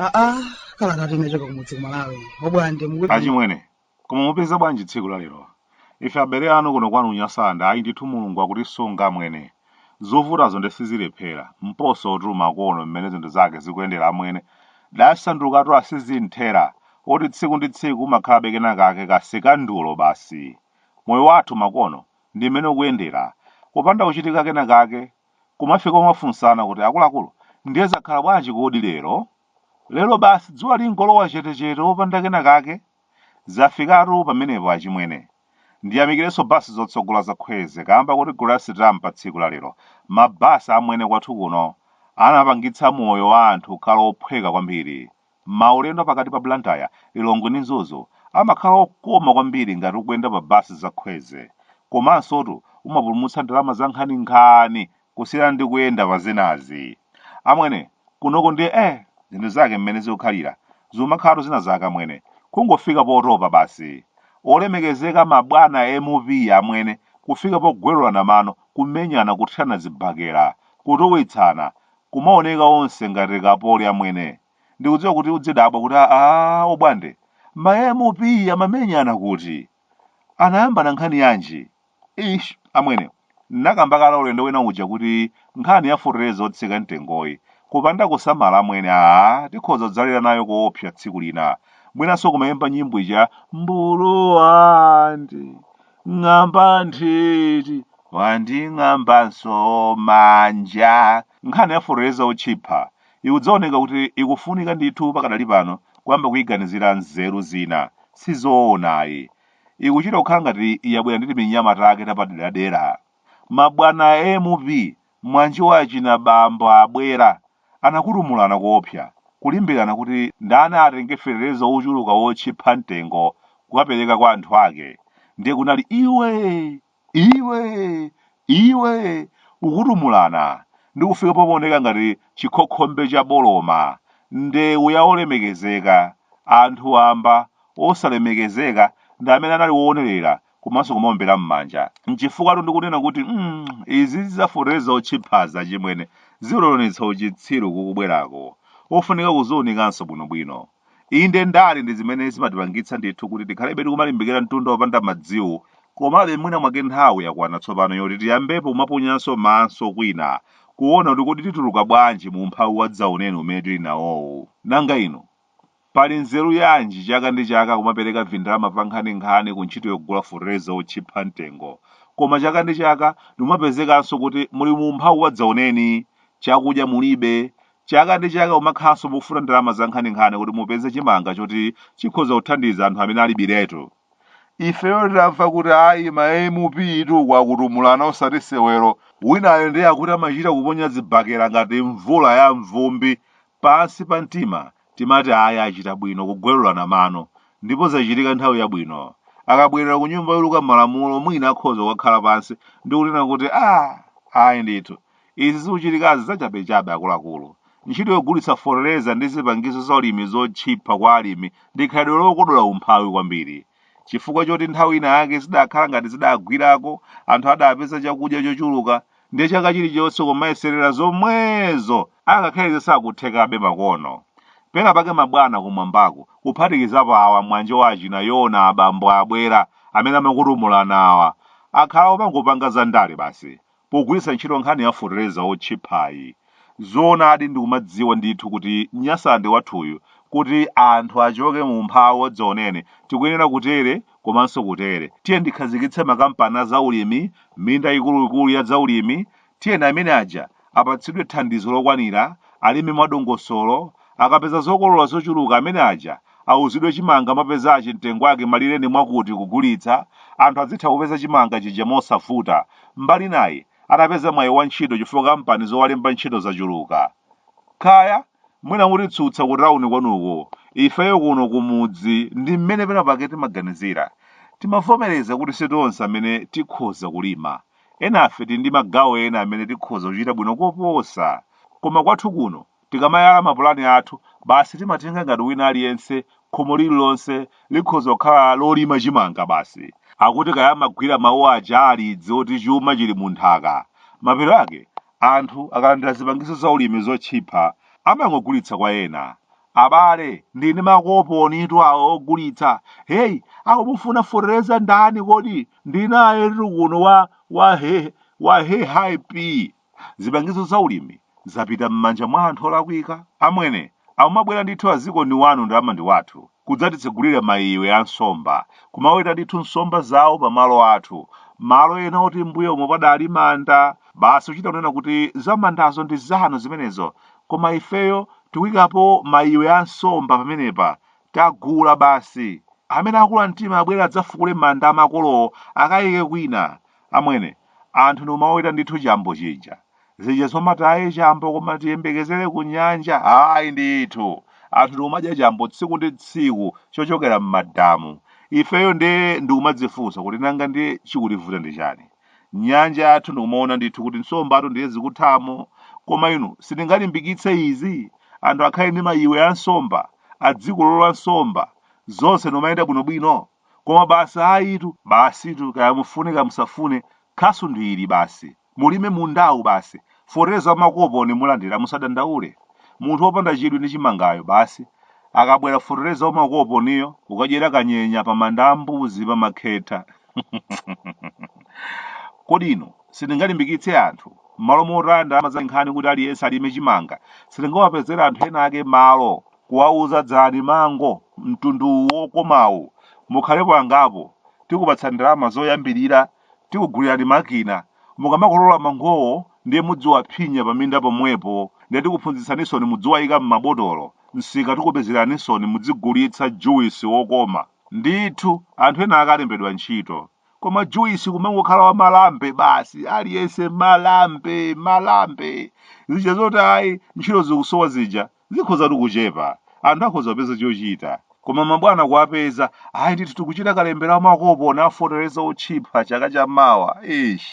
aa kalekale unachoka kumudzi kumalawi obwande mukuti achimwene koma mupeza bwanji tsiku la lero Ife abele anu kuno kwanu Nyasalandi ndithu mulungu wakutisunga amwene. zovutazo nde sizilephera. mposo tu makono mmene zinthu zake zikuyendera amwene. tasandukatu a sizimthera oti tsiku ndi tsiku umakhalabe kenakake ka sikandulo basi. moyo wathu makono ndi mmene ukuyendera. kupanda kuchitika kenakake kumafika umafunsana kuti akuluakulu ndiye zakhala bwanji kodi lero? lero basi dzuwa lingolowa chetechete opanda kenakake Zafikatu pamenepo achimwene. Ndiyamikirenso bus zotsogola za Kwezy kamba koti Grace Ram pa tsiku la lero ma bus amwene kwathu kuno anapangitsa moyo wa anthu kukhala ophweka kwambiri. Maulendo pakati pa Blantyre, Lilongwe ndi Mzuzu amakhala okoma kwambiri ngati ukuyenda pa bus za Khweze. Komansotu umapulumutsa ndalama za nkhani nkhani kusiyana ndi kuyenda pa zinazi amwene kunoko ndiye eh zinthu zake mmene zikukhalira zimakhalatu zina zake amwene kungofika potopa basi olemekezeka mabwana mp amwene kufika pogwirana mano kumenyana kuthirana zibakera kutuwitsana kumaoneka onse ngati akapoli amwene ndikudziwa kuti udzidabwa kuti aa obwande ma mp amamenyana kuti Anayambana nkhani yanji? Eish amwene, nnakamba kale ulendo wina uja kuti nkhani ya fertilizer otsika mtengoyi, kupanda kusamala amwene aah tikhoza kudzalira nayo koopsa tsiku lina. Mwinanso kumaimba nyimbo ija Mbulu wanding'amba nthiti wanding'ambanso manja. Nkhani ya fertilizer otchipa Ikudzaoneka kuti ikufunika ndithu pakadali pano kuyamba kuiganizira nzeru zina. Sizoona ayi. Ikuchita kukhala ngati yabwera ndi timinyama take tapaderadera. Ma bwana a MP mwanji wa achina bambo abwera anakutumulana koopsa kulimbirana kuti ndani atenge fetereza wochuluka wotchipha mtengo kukapereka kwa anthu ake ndiye kunali iwee! Iwe! Iwe! Kutumulana ndi kufika pomaoneka ngati chikhokhombe cha boloma, ndewu ya olemekezeka. Anthu wamba, osalemekezeka ndi amene anali oonerera komanso kumaombera m'manja. Nchifukwatu ndikunena kuti mm izi zizafotereza otchiphazi achimwene, zikutionetsa uchitsiru kukubwerako. Ofunika kuziunikanso bwinobwino. Inde, ndale ndi zimene zimatipangitsa ndithu kuti tikhalebe tikumalimbikira mtunda wopanda madziwu, komabe mwina mwake nthawi yakwana tsopano yoti tiyambepo kumaponyanso maso kwina, kuona kuti kodi tituluka bwanji mu umphawi wadzaoneni umene tili nawowu. Nanga inu? Pali nzeru yanji chaka ndi chaka kumapereka vindalama vankhaninkhani ku ntchito yogula fetereza wotchipha mtengo, koma chaka ndi chaka ndikumapezekanso kuti muli mu umphawi wadzaoneni, chakudya mulibe, Chaka ndi chaka kumakhalanso mukufuna ndalama zankhaninkhani kuti mupeze chimanga choti chikhoza kuthandiza anthu amene alibiretu. Ifeyo titamva kuti ayi ma MP tu akutumulana osati sewero, winayo ndiye akuti amachita kuponya zibakera ngati mvula ya mvumbi, pansi pa mtima timati ayi achita bwino kugwelulana mano, ndipo zachitika nthawi yabwino. Akabwerera kunyumba yoluka malamulo mwina akhoza kukakhala pansi ndi kunena kuti ah ayi ndithu, Izi zikuchitikazi zachabechabe akuluakulu. Ntchito yogulitsa fotereza ndi zipangizo zaulimi zotchipha kwa alimi ndi khalidwe lokodola umphawi kwambiri. Chifukwa choti nthawi ina yake zidakhala ngati zidagwirako, anthu adapeza chakudya chochuluka, ndiye chaka chilichonse kumayeserera zomwezo! Angakhale izi sizikuthekabe makono. Pena pake mabwana kumwambako, kuphatikizapo awa mwanje wa achina Yona abambo abwera, amene amakutumulana awa, akhala akungopanga zandale basi. pogwiritsa ntchito nkhani ya fotereza wotchiphayi. Zoonadi ndikumadziwa ndithu kuti Nyasalande wathuyu kuti anthu achoke mu umphawi wadzaoneni tikuyenera kutere komanso kutere. Tiyeni tikhazikitse makampani a zaulimi, minda ikuluikulu ya zaulimi, tiyeni amene aja apatsidwe thandizo lokwanira, alime mwadongosolo, akapeza zokolola zochuluka amene aja auzidwe chimanga mwapezachi mtengo wake malire ndi mwakuti kugulitsa, anthu adzitha kupeza chimanga chija mosavuta. Mbali inayi, atapeza mwayi wa ntchito chifukwa kampani zowalemba ntchito zachuluka. Kaya, mwina mutitsutsa ku tauni kwanuko, ifeyo kuno ku mudzi ndi mmene penapake timaganizira. Timavomereza kuti si tonse amene tikhoza kulima. Enafe tili ndi magawo ena amene tikhoza kuchita bwino koposa. Koma kwathu kuno, Tikamayala mapulani athu, basi timatenga ngati wina aliyense khomo lililonse likhoza kukhala lolima chimanga basi. Akuti kaya amagwira mawu aja a Alidzi oti chuma chili mu nthaka. Mapeto ake, anthu akalandira zipangizo zaulimi zotchipha, amangogulitsa kwa ena. Abale, ndili ndi makoponitu ogulitsa. Hey, akumufuna fotereza ndani kodi? Ndili nayetu kuno wa, wa he, wa he high pea. Zipangizo za ulimi zapita m'manja mwa anthu olakwika. Amwene, akumabwera ndithu a dziko ni wanu ndalama ndi wathu, kudzatitsegulira maiwe a nsomba, kumaweta ndithu nsomba zawo pa malo athu, malo ena oti m'mbuyomo padali manda, basi kuchita kunena kuti za mandazo ndi zanu zimenezo, koma ifeyo tikuikapo maiwe a nsomba pamenepa, tagula basi. Amene akula mtima abwere adzafukule manda a makolowo akaike kwina. Amwene, anthu ndi kumaweta ndithu chambo chija. Zija zomati ayi chambo koma tiyembekezere ku nyanja, ayi ndithu. Anthu ndikumadya chambo tsiku ndi tsiku chochokera m'madamu. Ifeyo nde ndikumadzifunsa kuti nanga ndiye chikutivuta ndi chani? Nyanja yathu ndikumaona ndithu kuti nsombatu ndiye zikuthamo. Koma inu sitingalimbikitse izi? Anthu akhale ndi mayiwe a nsomba, adzikolola nsomba, zonse ndikumayenda bwinobwino? Koma basi ayitu, basitu kaya mufune kaya musafune, khasu ndi ili basi. Mulime mundawu basi. Fotereza wamakoponi mulandira musadandaule. Munthu opanda chidwi ndi chimangayo basi. Akabwera fotereza wamakoponiyo ukadyera kanyenya pa Manda a Mbuzi pa Makhetha. Kodi inu sitingalimbikitse anthu mmalo motaya ndalama za nkhani kuti aliyense alime chimanga sitingawapezera anthu ena ake malo kuwauza dzalani mango mtundu uwu wokomawu mukhalepo angapo tikupatsani ndalama zoyambilira tikugulirani makina mukamakolola mangowo ndiye mudziwaphinya paminda pomwepo ndiye tikuphunzitsanisoni mudziwaika mmabotolo msika tikupezeranisoni mudzigulitsa juice wokoma ndithu anthu ena ake alembedwa ntchito koma juice kumangokhala wa malambe basi aliyense malambe malambe zija zoti ayi ntchito zikusowa zija Zikhozatu kuchepa, anthu akhoza kupeza chochita. Koma mabwana kuwapeza, ayi ndithu tikuchita kalembera wa makoponi a fotereza otchipha chaka cha mawa. Eish.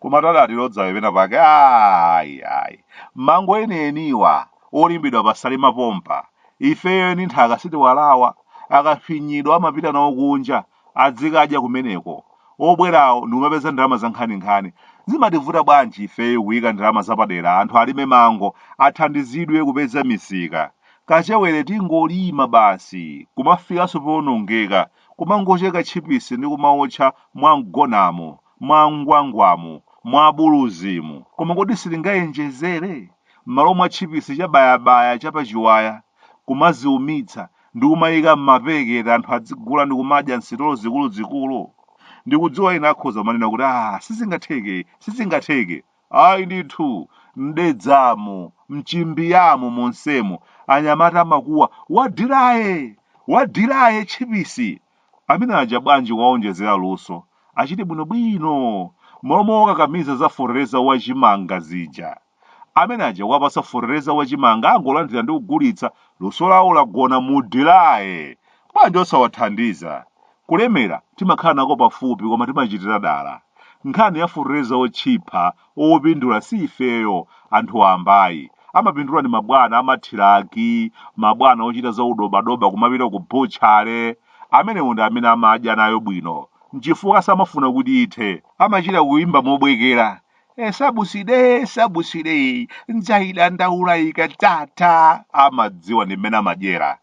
Komatu adatilodzawe pena pake. Ayi, ayi. Mango enieniwa, olimidwa pa Salima pompa. Ifeyo eni nthaka sitiwalawa. Akafinyidwa amapita nawo kunja. adzikadya kumeneko. Obwerawo ndikumapeza ndalama zankhaninkhani. Zimativuta bwanji ifeyo kuyika ndalama zapadera anthu alime mango athandizidwe kupeza misika. Kachewere tingolima basi kumafikanso powonongeka kumangocheka tchipisi ndi kumaotcha mwa Mgonamo, mwa Ngwangwamu, mwa Buluzimu. Koma kodi sitingayenjezere? Mmalo mwa tchipisi cha bayabaya cha pa chiwaya. kumaziumitsa ndi kumaika m'mapekete anthu adzigula ndi kumadya m'sitolo zikuluzikulu? Ndikudziwa ena akhoza kumanena kuti, Ah, sizingatheke, sizingatheke. Ayi ndithu, m'dedzamu, m'chimbiyamu monsemo, anyamata amakuwa, Wadiraye! Wadiraye, tchipisi! Amene aja bwanji kuwawonjezera luso? Achite bwinobwino, m'malo mowakakamiza za fotereza wa chimanga zija. Amene aja kuwapasa fotereza wa chimanga angolandira ndi kugulitsa, luso lawo lagona mu diraye. Bwanji osawathandiza? Kulemera timakhala nako pafupi koma timachitira dala. Nkhani ya fotereza otchipha opindula si ifeyo, anthu wamba ayi. Amapindula ndi mabwana a mathiraki, mabwana ochita za udobadoba kumapita ku butchery. Amenewo ndi amene amadya nayo bwino. Nchifukwa samafuna kuti ithe. Amachita kuimba mobwekera, e sabuside sabuside iyi ndzaidandaula ikadzatha amadziwa ndi mmene amadyera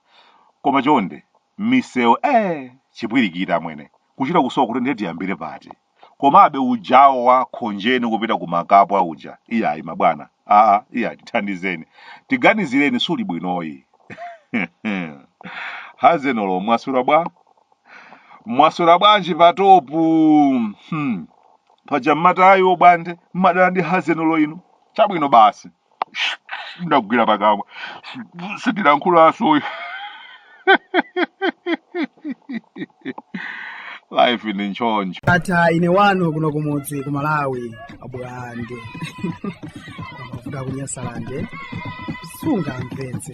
koma chonde misewu e chipwirikiti amwene kuchita kusowa kuti ndiye tiyambire pati komabe ujawo wa khonjeni kupita ku makapwa uja iyayi mabwana aa iya tithandizeni tiganizireni suli bwinoyi hazenolo mwaswera bwa mwaswera bwanji patopu hmm. paja mmatayi obwande mmadana ndi hazenulo inu chabwino basi ndagwira pakamwa sindilankhulanso life ndi nchoncho ndatha ine wanu kuno kumudzi ku malawi abwande kuvuta kunyasalande sungamvetse